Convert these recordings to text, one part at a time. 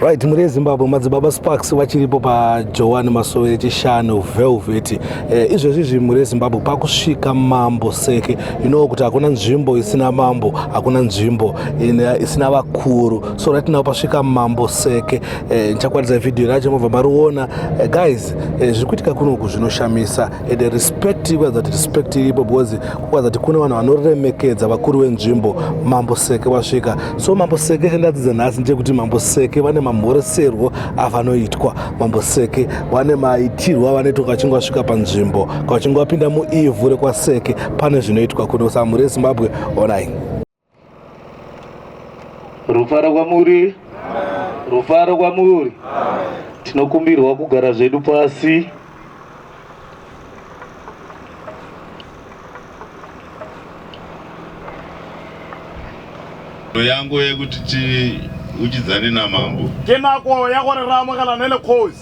right muri ezimbabwe madzibaba sparks vachiripo pajoan masowe chishanu velvet eh, izvezvi zvi muri ezimbabwe pakusvika mambo seke inowo kuti hakuna nzvimbo isina mambo hakuna nzvimbo eh, isina vakuru so ratinawo pasvika mambo seke eh, ndichakwaridza eh, vhidhiyo racho mobva mariona eh, guys eh, zviri kuitika kunoku zvinoshamisa and respect ikwaza kuti respect iripo because kwaza kuti kune vanhu vanoremekedza vakuru venzvimbo mambo seke vasvika so mambo seke chandadzidza nhasi ndechekuti mambo seke vane mamhoreserwo avanoitwa mambo seke vane maitirwo avanoitwa kachinge vasvika panzvimbo kachinge vapinda muivhu rekwaseke pane zvinoitwa kuno samhuri yezimbabwe onai Rufaro kwamuri, rufaro kwamuri. Tinokumbirwa kugara zvedu pasi. yangu yekuti tiuchidzane namambo. Ke nako ya gore ra amogela ne le cause.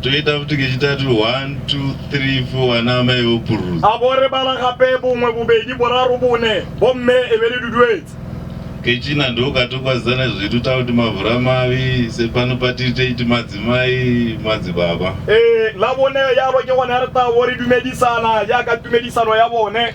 toita futi kechitatu 1 2 3 4 ana amai vopururudza abo re bala gape bongwe bobedi boraro bone bomme e be le duduetse kechina ndokatokwazana zvedu takuti mavhura mavi sepano patiri teiti madzimai madzibaba e, la bone yalo ke gona re tabo re dumedisana yaka tumedisano ya bone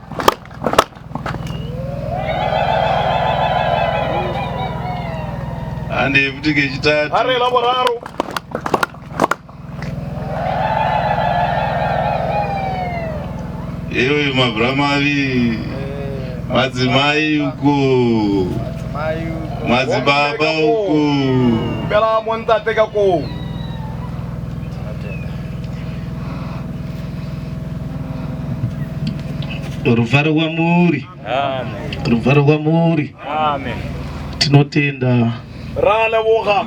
Ande futi kechitatu. Are la boraro. Ewe mabramari madzimai uko madzibaba uko bela montate kako Ruvaro kwamuri. Ruvaro kwamuri. Tinotenda. Ralevoga.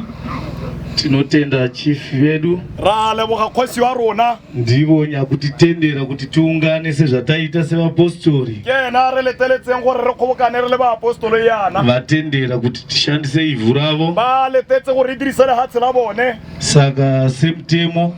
Tinotenda chief vedu. Ralevoga kosi warona. Ndivo nyakutitendera kuti tiungane sezvataita sevapostori. Yena releteletseng gore re khobokane re le baapostolo yana. Vatendera kuti tishandise ivhu ravo. Ba letetse gore dirisele hatsi la bone. Saka semtemo